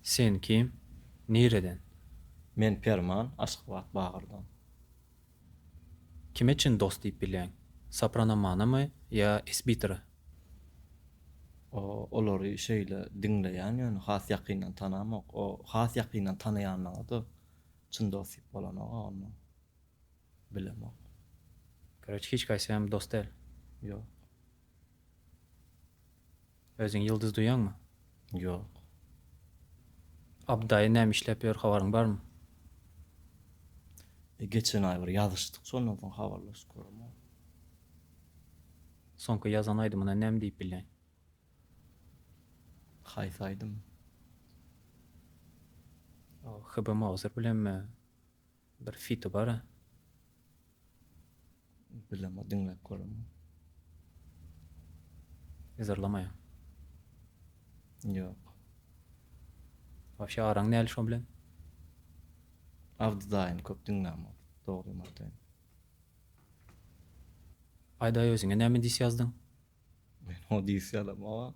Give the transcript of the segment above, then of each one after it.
Sen kim? Nireden? Men Perman, Aşgabat Bagyrdan. Kime çyn dost diýip bilýäň? Sopranomanamy ýa esbiteri? O, olary şeýle diňleýän, ýöne has ýakyndan tanamok. O, has ýakyndan tanaýanlara-da çyn dost diýip bolanok-a onda. Bilemok. Koroçe, hiç haýsy hem dost däl. Ýok. Özüň ýyldyz duýaňmy? Ýok. Abdaýy näme işläp ýör habaryň barmy? E geçen aý bir ýazyşdyk şondan soň habarlaşyk görem ol. Soňky ýazan aýdymyna näme diýip bilýäň? Haýsy aýdym? O HB Mauser bilenmi? Bir fiti bara. Bilemok diňläp göremok. Yzarlamaýaň. Ýok. Wapşe araň näli şo bilen? Abdy daýyny köp diňlämok. Dogrymy aýtaýyn. Aýdaý özüňe näme dis ýazdyň? Men ho diýs ýalam oa.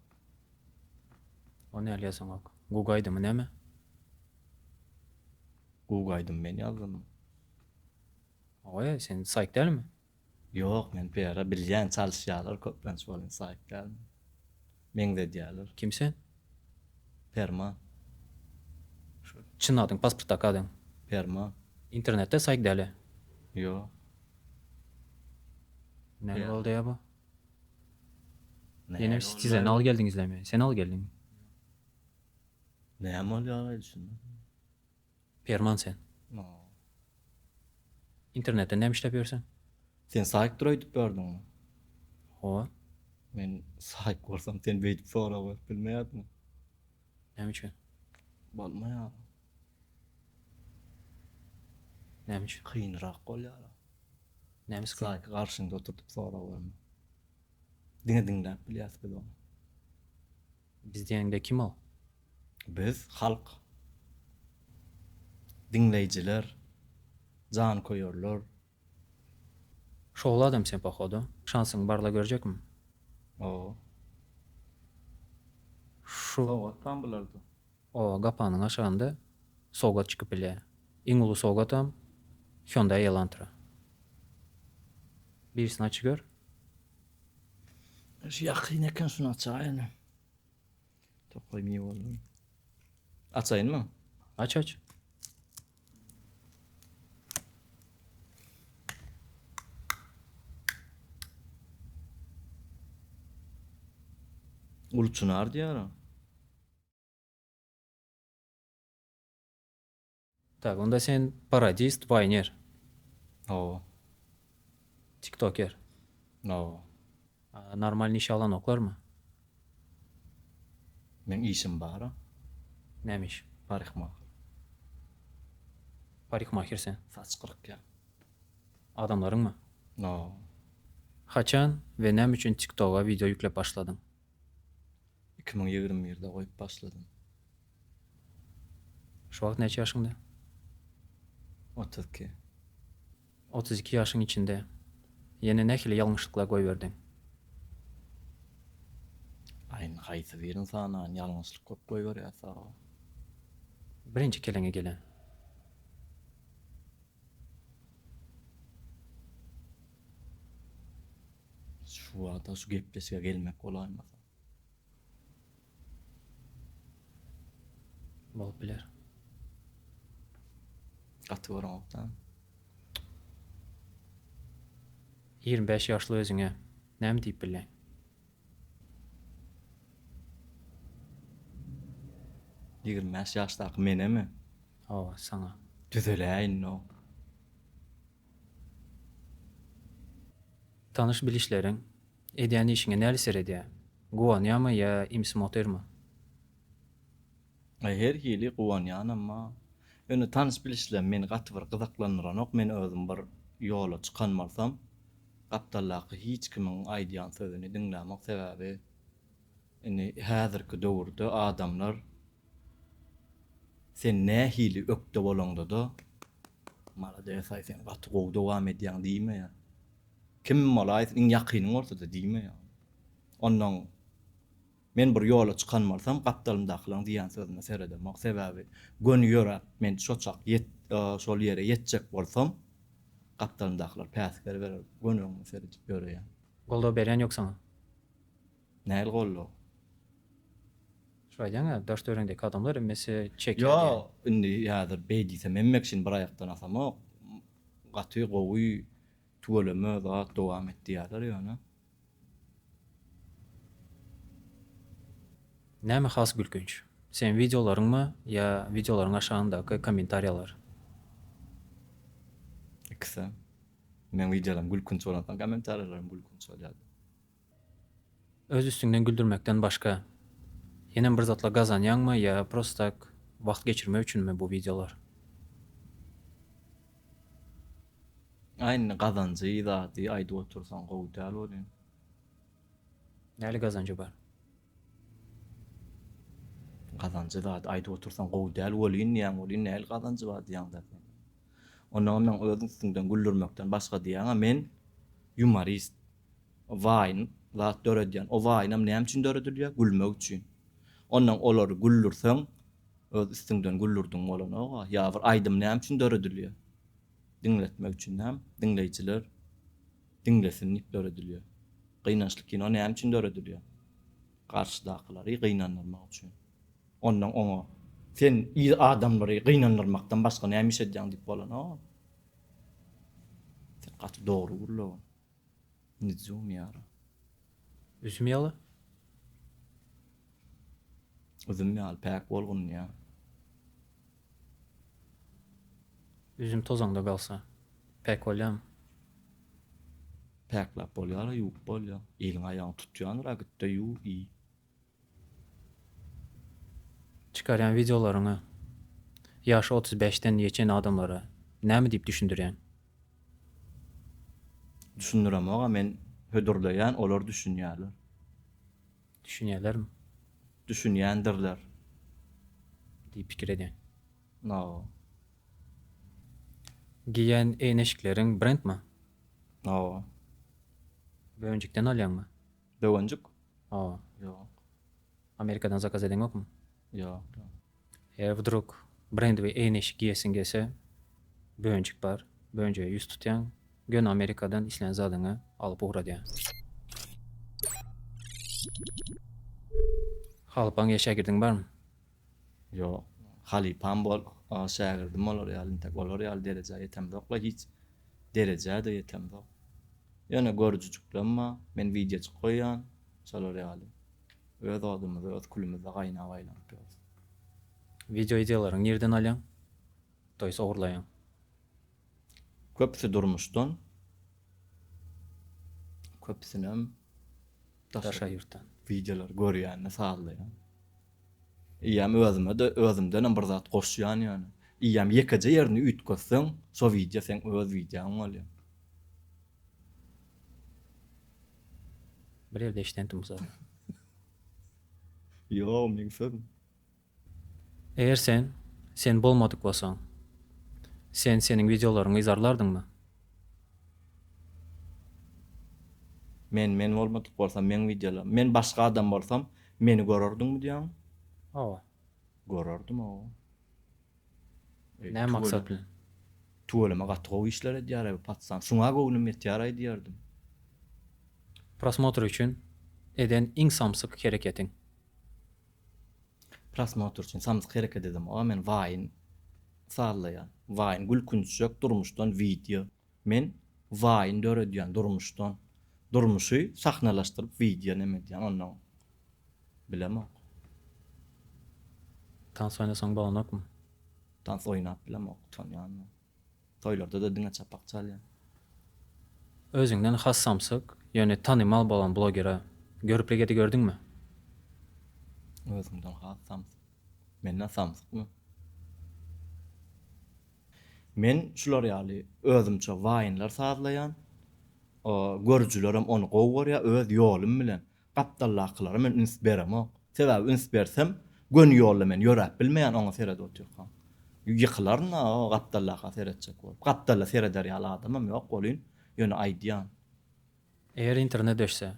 O näl ýazyň ok. Gug aýdymy näme? Gug aýdymy men ýazdym. Oe sen saýk dälmi? Ýok men PR-a bilýän çalyşýalar köplenç bolin saýk däl men. Meňzedýäler. Kim sen? Perman. Şu çyn adyň pasportdaky adyň? Perman. Internetde saýk däle? Ýok. Näme boldy ýa bu? Ýene Näme siz bolýar? al geldiňizlemi? Sen al geldiň. Näme bolýar aý düşündim. Perman sen. No. Internetden näme işläp ýörsen? Sen saýk dur öýdüp ýördüňmi? Hawa. Men saýk bolsam sen beýdip sorag berip bilmeýärdiň. Näme üçin? Bolmaýar. Näme üçin kynrak bolýar? Näme sklaýka garşyňda oturdyp sorag berme. Diňe diňläp bilýäs biz ony. Biz diýende kim ol? Biz, halk. Diňleýjiler, janköýerler, Şowly adam sen pohodu. Şansyň barla görjekm. Oo. Şu. Sowgat bam bularda. Oba gapanyň aşagynda sowgat çykyp bilýä. Iň uly sowgatam Hyundai Elantra. Birisini açy gör. Şu ýakyn eken şuny açaýyn. Tokaý mi boldum. Açaýynmy? Aç aç. Uly çynar diýýär. Tak onda sen parodist wainer. Hawa. Tiktoker. Hawa. A normalny işe alanoklarmy? Meň işim bara. Näme iş? Parihmaher. Parihmaher sen. Saç gyrykýan. Adamlaryňmy? Hawa. Haçan we näme üçin tiktoga wideo ýükläp başladyň? Iki müň ýigrimi birde goýup başladym. Şu wagt näçe ýaşyňda? Otuz iki. Otuz iki ýaşyň içinde ýene nähili ýalňyşlyklar goýberdiň? Aýn haýsy birini sanaýyn, ýalňyşlyk köp goýberýär saga. Birinji keleňe gelen. Şu wagta şu gepleşige gelmek bolaýmasa. Bolup biler. Gaty görüňokda. Ýigrimi bäş ýaşly özüňe näme diýip bilýäň? Ýigrimi bäş ýaşdaky menemi? Hawa, saňa. Düzeläýin no. Tanyş-bilişleriň edýän işiňe nädip seredýär? Guwanýarmy ýa im smotirmi? Aý her hili guwanýanam-a. Ýöne tanyş-bilişler meni gaty bir gyzyklandyranok, men özüm bir ýola çykan bolsam, gapdaldaky hiç kimiň aýdýan sözüni diňlämok, sebäbi Indi häzirki döwürde adamlar sen nähili ökde bolaňda-da Malades-aý sen gaty gowy dowam edýäň diýmeýär. Kim bolaýsyn iň ýakynyň bolsa-da diýmeýär. Onnoň men bir ýola çykan bolsam gapdalymdakylaň diýýän sözüne seredemok. Sebäbi göni ýöräp men şoçak ýet şol ýere ýetjek bolsam gapdalymdakylar päsgel berer göni öňüme seredip ýöreýän. Goldaw berýän ýok saňa. Nail goldaw. Şu aýdýaňa daş töweregiňdäki adamlar emmesi çeker diýen. Ýok indi häzir beý diýsem emmek şin bir aýakdan asamok gaty gowy tüweleme zat dowam et diýýärler ýöne. Näme has gülkünç? Seň wideolaryňmy ýa wideolaryň aşagyndaky kommentariýalar? Ikisem. Meň wideolaym gülkünç bolansoň kommentariýalarym gülkünç bolýar. Öz üstüňden güldürmekden başga ýenem bir zatlar gazanýaňmy ýa prosta tak wagt geçirmek üçinmi bu wideolar? Aý indi gazanjy zady aýdyp otursaň gowy däl welin. Näli gazanjy bar? Gazanjy zady aýdyp otursaň gowy däl welin diýýäň welin näli gazanjy bar diýýäňda sen. Ondaňam meň öz üstüňden güldürmekden başga diýýäňä men ýumorist. Waýn zat döredýän. O waýnam näme üçin döredilýär? Gülmek üçin. Onnoň olary güldürseň, öz üstüňden güldürdiň bolanok-a. Ýa bir aýdym näme üçin döredilýär? Diňletmek üçin, näme? Diňleýjiler diňlesin diýip döredilýär. Gynançly kino näme üçin döredilýär? Garşydakylary gynandyrmak üçin. Onnoň oňa sen ir adamlary gynandyrmakdan başga näme iş edýäň diýip bolanok-a. Sen gaty dogry gürlegen. Üzüm ýaly. Üzüm ýaly? Üzüm ýaly päk bol gundýar. Üzüm tozaňda galsa, päk bolýarmy? Päkläp bolýar-a, ýuwup bolýar. Eliň aýagyň tutýandyr-a, git-de ýuw, iý. Çykarýan wideolaryňy ýaşy otuz bäşden geçen adamlara näme diýip düşündirýäň? Düşündirem aga men hödürleýän olar düşünýärler. Düşünýälermi? Düşünýändirler. Diýip pikir edýäň. No. Geýýän eýneşikleriň brendmi? No. Bönjikden alýaňmy? Döwenjik? O, ýok. Amerikadan zakaz edeň ýokmy? Ýok, ýok. Eger wdruk brendowy eýneşik giýesiň gelse, bönjik bar. Bönjige ýüz tutýaň, göni Amerikadan islän zadyňy alyp ugradýaň. Halypaň ýa şägirdiň barmy? Ýok. Halypam bol, şägirdim olar ýaly, intek olar ýaly derejä ýetemzok-la hiç. Derejä-de ýetemzok. Ýöne görüjijiklem bar, men wideojyk goýýan, şolar ýaly. Öz odumyzda, öz külümizde gaýnap-aýlanyp ýörüs. Wideo ideýalaryňy nireden alýaň? Doýs ogurlaýaň. Köpüsi durmuşdan, köpüsinem daşary ýurtdan wideolar görýänine sazlaýan. Eýýäm özüme-de, özümdenem bir zat goşýan ýöne. Eýýäm ýekeje ýerini üýtgetseň, şo wideo seň öz wideoň bolýar. Bir ýerde işleýän Tumsa. Ýok, meň sözüm. Eger sen sen bolmadyk bolsaň, sen seniň wideolaryňy yzarlardyňmy? Men men bolmadyk bolsam, meň wideolarym, men başga adam bolsam, meni görerdiňmi diýýäň? Hawa. Görerdim hawa. Näme maksat bilen? Tüweleme gaty gowy işler edýäraý bu patsan. Şuňa göwnüm ýetýäraý diýerdim. Prosmotr üçin eden iň samsyk hereketiň. Prosmotr üçin samsyk hereket edem aga men waýn sazlaýan waýn gülkünçjek durmuşdan wideo men waýn döredýän durmuşdan durmuşy sahnalaşdyryp wideo neme edýän ondan bilemok. Tans oýnasaň bolanokmy. Tans oýnap bilemok utanýandan. Toýlarda-da diňe çapak çalýar. Özüňden has samsyk, ýöne tanymal bolan blogere görüpligedi gördüňmi? Özüňden has samsyk. Menden samsykmy? Men şular ýaly özümçe waýnlar sazlaýan. Görüjilerem ony gowy görýär, öz ýolum bilen. Gapdaldakylara men üns beremok. Sebäbi üns bersem, göni ýolda men ýöräp bilmeýän, oňa seredip otyrkam. Ýykylaryn-a o gapdaldaka seretjek bolup. Gapdalda sereder ýaly adamam ýok welin, ýöne aýdýan. Eger internet öçse,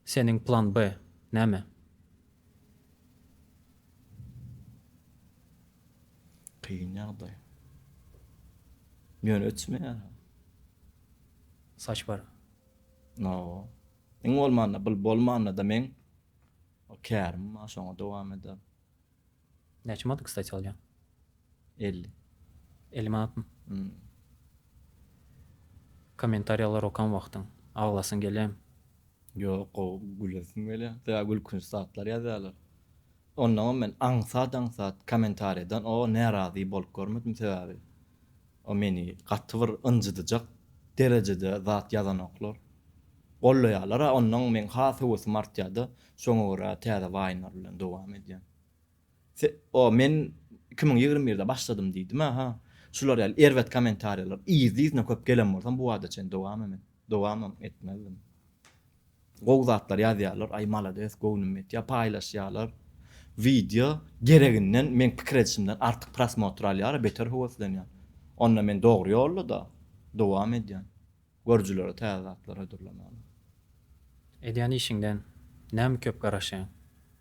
seniň plan B näme? Kyn ýagdaý. Ýöne öçmeýär-ä. Saç bar. No. Iň bolmanda bul bolmanda-da meň o kärim bar şoňa dowam ederin. Näçe manat kstati alýaň? Elli. Elli manatmy? Hum. Kommentariýalary okan wagtyň aglasyň gelýämi? Ýok gowy gülesim gelýär. Sebäbi gülkünç zatlar ýazýarlar. Onnoňam men aňsat-aňsat kommentariýadan o närazy bolup görmedim, sebäbi o meni gaty bir ynjydyjak derejede zat ýazanoklar. Gollaýarlar-a, onnoň meň has höwesim artýar-da, şoňa görä täze waýnlar bilen dowam edýän. Se, o, men iki müň ýigrimi birde başladym diýdim-ä, ha, şular ýaly erbet kommentariýalar yzly-yzyna köp gelen bolsam bu wagta çenli dowam emen. Dowamam etmezdim. Gowy zatlar ýazýarlar aý malades göwnüm ýetýär paýlaşýarlar wideo gereginden meň pikir edişimden artyk prosmotr alýara beter höweslenýän onda men dogry ýoldada dowam edýän görjülere täze zatlar hödürlemäne. Edýän işiňden näme köp garaşýaň?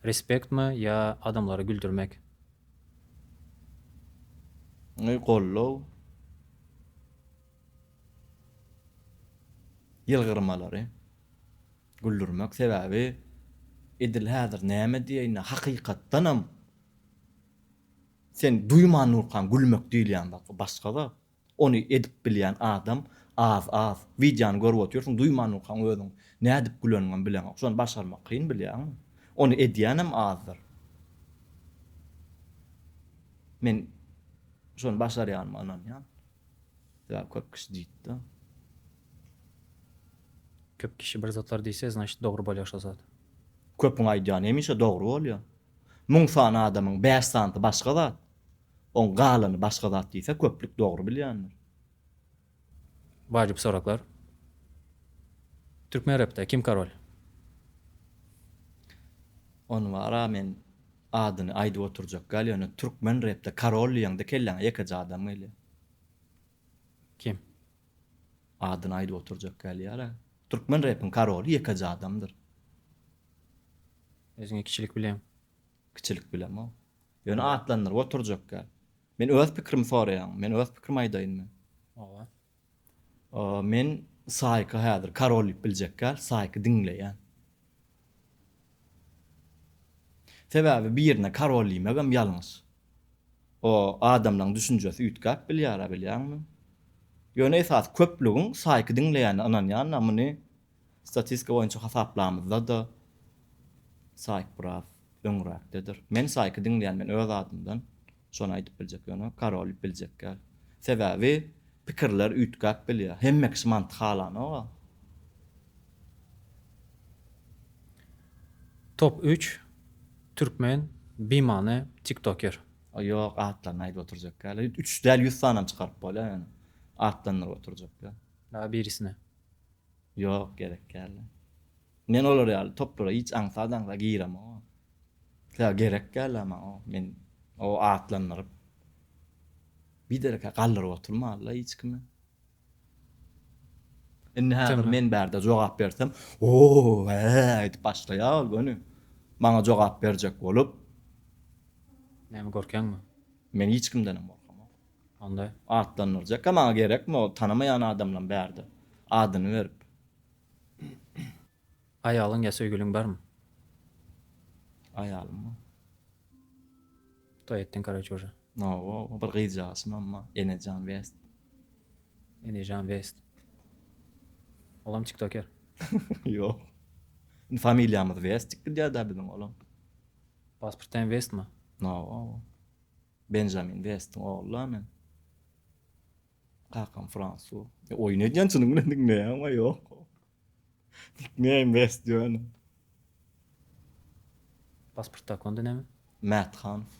Respektmi ýa adamlary güldürmek? Gollaw. Ýylgyrmalary güldürmek sebäbi edil häzir näme diýeýine hakykatdanam sen duýman durkaň gülmek diýilýän zat başga zat ony edip bilýän adam az az wideony görüp otyrsyň duýman durkaň özüň nädip güleniňem bileňok şony başarmak kyn bilýäňmi ony edýänem azdyr men şony başarýanyma ynanýan. Ýa köp kişi diýipdi. Köp kişi bir zatlar diýse znaşit dogry bolýar şo zat. Köpüň aýdýany hemişe dogry bolýar. Müň sany adamyň bäş sanysy başga zat, on galany başga zat diýse köplük dogry bilýändir. Wajyp soraklar. Türkmen repde kim karol? Ony bara men Adyny aýdyp oturjak gal ýöne türkmen repde karol diýeňde kelläňe ýekeje adam gelýär. Kim? Adyny aýdyp oturjak gal ýara. Türkmen repiň karoly ýekeje adamdyr. Özüňi kiçilik bileň. Kiçilik bilemok. Ýöne atlandyryp oturjak gal. Men öz pikrimi soraýaňmy? Men öz pikrimi aýdaýynmy? Hawa. Men Saýka häzir karol diýip biljek däl, Saýky diňleýän. Sebäbi birine karol diýmegem ýalňyş. O adamlaň düşünjesi üýtgäp bilýär-ä bilýäňmi? Ýöne esasy köplügiň Saýky diňleýänine ynanýan-da muny Statistika boýunça hasaplamyzda-da Saýk biraz öňräkdedir. Men Saýky diňleýän, men öz adymdan şony aýdyp biljek, ýöne Karolyp biljekgäl. Sebäbi pikirler üýtgäp bilýär. Hemme kişi mantyk halanok-a. Top üç türkmen bimany tiktoker. A ýok, atlaryny aýdyp oturjakgäl. Üç däl, ýüz sanam çykaryp bolýar ýöne. Atlandyryp oturjakgäl. Dagy birisine. Ýok, gerek däl. Men olar ýaly toplara hiç aňsat-aňsa giremog-a. Sebäbi gerek däl-ä maňa. Men o atlandyryp, biderek-ä galdyryp oturman-la hiç kimi. Indi häzir men bärde jogap bersem, O-o-o-o-o-o-o aýdyp başlaýar ol göni. Maňa jogap berjek bolup. Näme, gorkýaňmy? Men hiç kimdenem gorkamok. Onda atlandyrjak-a maňa gerekmi ol tanamaýan adamlam bärde adyny berip. Aýalyň ýa söýgüliň barmy? Aýalymmy? Toý etdiň koroç oja. Nowo bir gyzjagazym hem bar Enejan West. Enejan West. Olam tiktoker. Ýok. Indi familiýamyz West çykyp gidýär-dä biziň olam. Pasport hem Westmi? Nowo. Benjamin Westiň ogly-la men. Kakam Fransu. E, oýun edýän çynyň bilen diňleýäňmi? Ýok. Diňleýin West ýöne. Pasport dokondy näme? Mäthanow.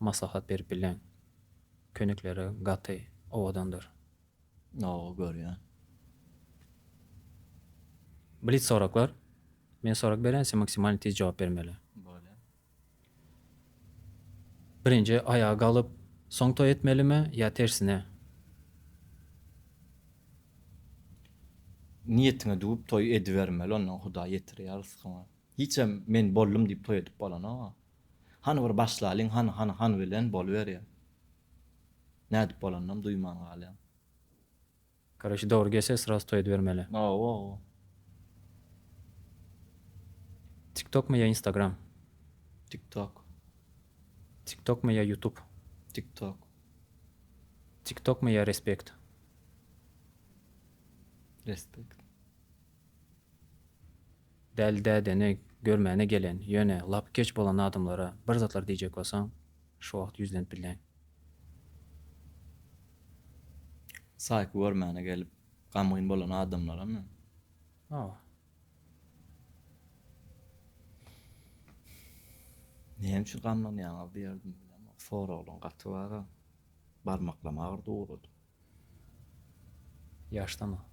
Maslahat berip bilýän köneklere gaty owadandyr. Nogu görýän. Blitz soraklar. Men sorak berýän sen maksimalny tiz jogap bermeli. Bolýa. Birinji aýaga galyp soň toý etmelimi ýa tersine. Niýetiňe düwüp toý edibermeli ondan hudaý ýetirýär ryskyňy. Hiçem men boldum diýip toý edip bolanok a. Hany bir başlalyň hany hany hany bilen boluberýär. Nädip bolanynam duýman galýaň. Koroçi dogry gelse sraz toýa dübermeli. Hawa. Tiktokmy ýa instagram. Tiktok. Tiktokmy ýa ýutup. Tiktok. Tiktokmy ýa respekt. Respekt. Däli dädeni görmäne gelen, ýöne lap geç bolan adamlara bir zatlar diýjek bolsaň, şu wagt ýüzlenip bilýäň. Saýky görmäne gelip, gamgyn bolan adamlaramy? Hawa. Näme üçin gamlanýaňyz diýerdim, bilemok. Soraglaň gaty bar-a. Barmaklam agyrdy ugradym. Ýaşdama.